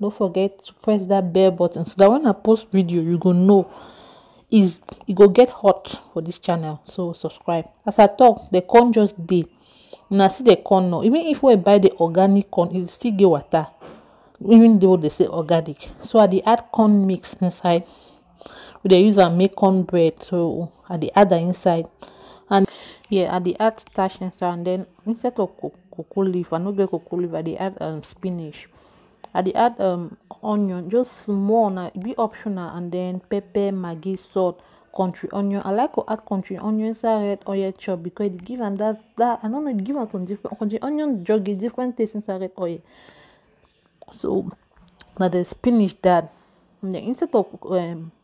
no forget to press that bell button so that when i post video you go know is e go get hot for this channel so subscribe as i talk the corn just dey una see the corn now even if we buy the organic corn e still get water even though they say organic so i dey add corn mix inside we dey use am make corn bread so i dey add am inside and yeah i dey add starch inside and then instead of cocoa leaf i no get cocoa leaf i dey add um, spinach i dey add um onion just small na e be optional and then pepper maggi salt country onion i like to add country onion inside red oil chop because e dey give am that that i no know e dey give am some different country onion just get different taste inside red oil so na the spinach that and then instead of um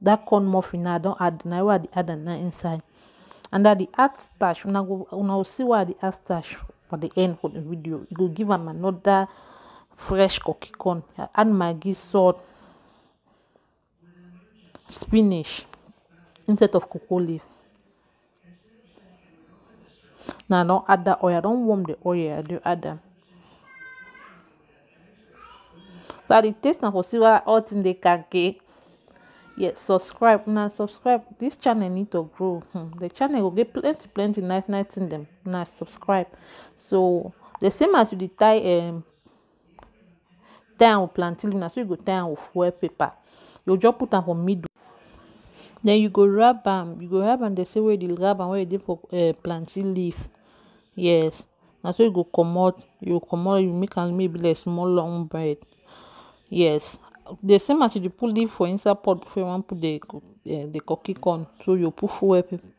that corn muffin now I don add na where I dey add am now inside and I dey add starch una go una go see why I dey add starch for the end of the video e go give am another fresh cookie corn I add maggi salt spinach instead of cocoa leaf. now i don add that oil i don warm the oil i do add them. so the taste now for see why all thing dey kake yes subscribe now subscribe this channel need to grow hmm. the channel will get plenty plenty nice nice thing them now subscribe so the same as you dey tie um, tie am with plantain leaf na so you go tie am with foil paper you go just put am for middle den you go wrap am you go wrap am di same way you wrap am wey you dey for plantain leaf yes na so you go comot you go comot you go make am make e be like small long bread yes di same as you dey put leaf for inside pot before you wan put di cooking con so you go put foil paper.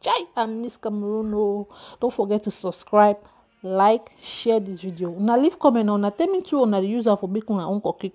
chai i miss cameroon oo no forget to subscribe like share this video una leave comment na una tell me too una dey use am for make una own kokriko.